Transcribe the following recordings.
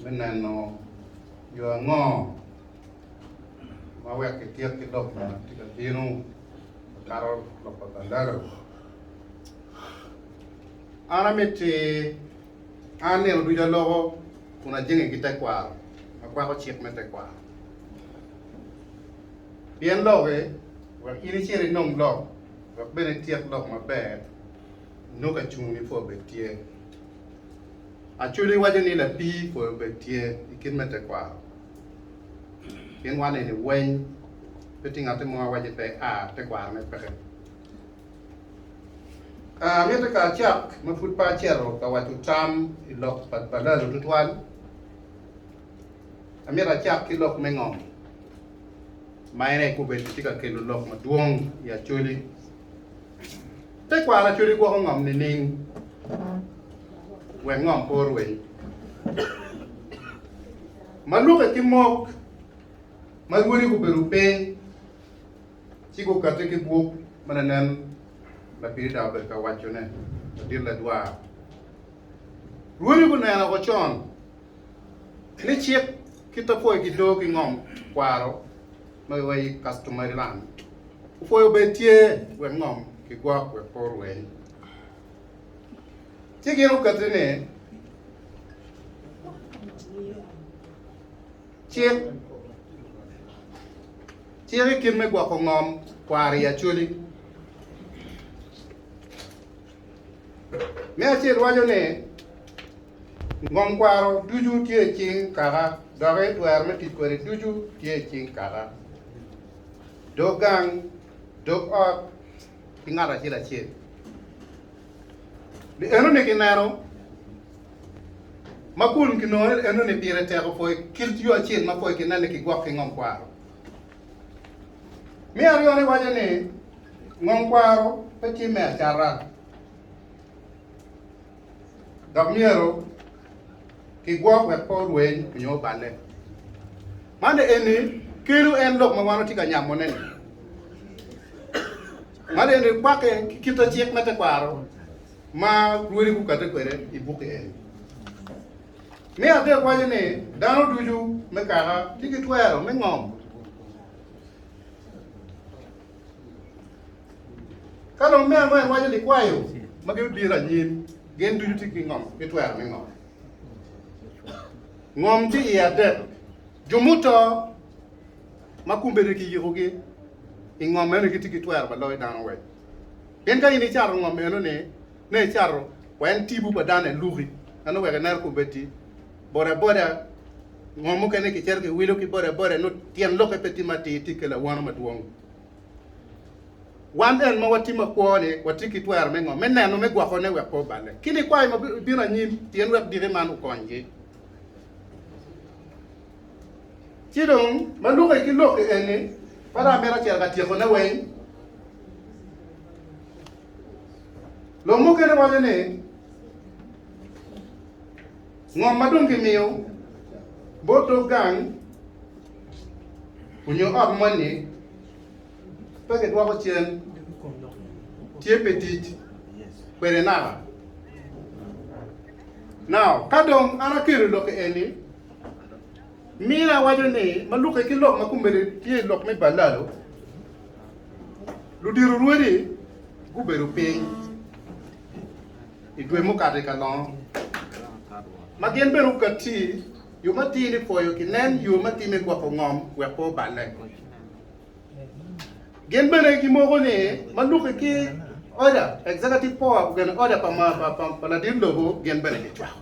me neno yo ango ma wek kityek ki lok ma tye ka bino makato lok pa Bandari. An amitti an nino ducu aloko kun ajenge ki tekwaro makwako cik me tekwaro pien loki wek in icit inong lok wek bene ityek lok maber. nongo acungo ni pwo obed tye. Acudi waco ni lapii pwo obed tye i kit me tekwaro. Gin wan eni weny pe tye ngatte mo a waco ni pe a tekwaro ne peke. A mitte ka acak ma pud pe aceto ka waco tam i lok pa balalo tutwal, a mito acak ki lok me ngom ma en aye kobedi tye ka kelo lok madwong i acoli. Tekwaro acwedi gwoko ngom nining wek ngom pe orweny? Ma luke ki mok ma rwodi gubedo piny ci gukate ki buk ma lanen lapirida obedo ka wacone, Ladit Ladwar. Rwodi guneno woko con ni cik kit apwoyo ki doo ki ngom kwaro ma wa i Kastumariland. Opwoyo bene tye wek ngom kigwok wek pe orweny. Ci gin okette ni cik cik i kit me gwoko ngom kwaro i Acholi. Me acel waco ni, Ngom kwaro ducu tye i cing Kaka, doki twero me tic kwede ducu tye i cing Kaka. Dog gang, dog ot ki ngat acel acel. Ni enoni kineno ma kun kinongo ni enoni pire tek opoi kit yo acel ma poi kinen ni kigwok ki ngom kwaro. Me aryone waco ni ngom kwaro pe tim me acata dok myero kigwok wek pe orweny nyo oballe. Man eni kelo en lok ma wan watye ka nyamone-ni. Man eni kwakke ki kite cik me tekwaro ma lwodi gukadde kwede i bukki eni. Me adek waco ni dano ducu me kaka tye ki twero me ngom ka dong me angwen waco likwayo ma gin obiro anyim gin ducu tye ki ngom ki twero me ngom ngom tye iye adek jo muto ma kumbedi ki yikogi i ngom meno gitye ki twero pa loyo dano wek pien ka in icato ngom meno ni me cato weny tipo pa dano eluki meno wek ineno ku bedi boda boda ngo mukene ki cito ki wilo ki boda boda no tyen loke pe tye ma tir tye kelo awano madwong wan en ma wa tye ma kwo ni wa tye ki twero me ngo me neno me gwoko ne wek pe obale ki ni kwayo ma bino anyim pien wek diki man okony gi ci dong ma luki ki loki eni ma dong amito cito ka tyeko ne weny Lok mukene waco ni ngom ma dong kimiyo bot dog gang onyo ot moni pe kidwoko cen, tye pi tic kwede naka. Now, ka dong an aketo lokke eni, mina waco ni ma lukke ki lok ma kumene tye i lok me balalo, Ludito rwodi gubedo piny i dwe mukato i kalongo ma gin bene okatti yo matir ni pwoyo kinen yo ma time gwoko ngom wek pe oballe. Gin bene gimoko ni ma luki ki oda executive power kugene oda pa ladit lobo gin bene gicwako.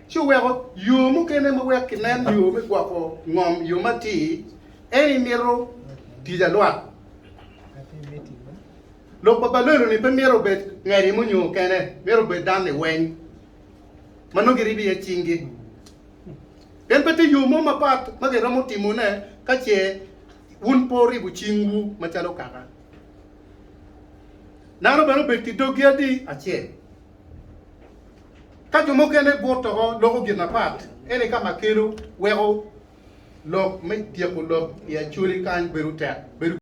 ci oweko yo mukene ma wek kinen yo me gwoko ngom yo matir en i mito tic alwak. Lok pa balelo ni pe mito obed ngeri munyo kene mito obed dan ni weng ma nongo giribi iye cingi pien pe tye yo mo mapat ma giromo timo ne ka ce wun pe oribo cingwu macalo kaka dano bene obed ki dogi adi acel. Ka jo mukene but doko loko gin mapat, eni ka ma kelo weko lok me tyeko lok i Acholi kany bedo tek.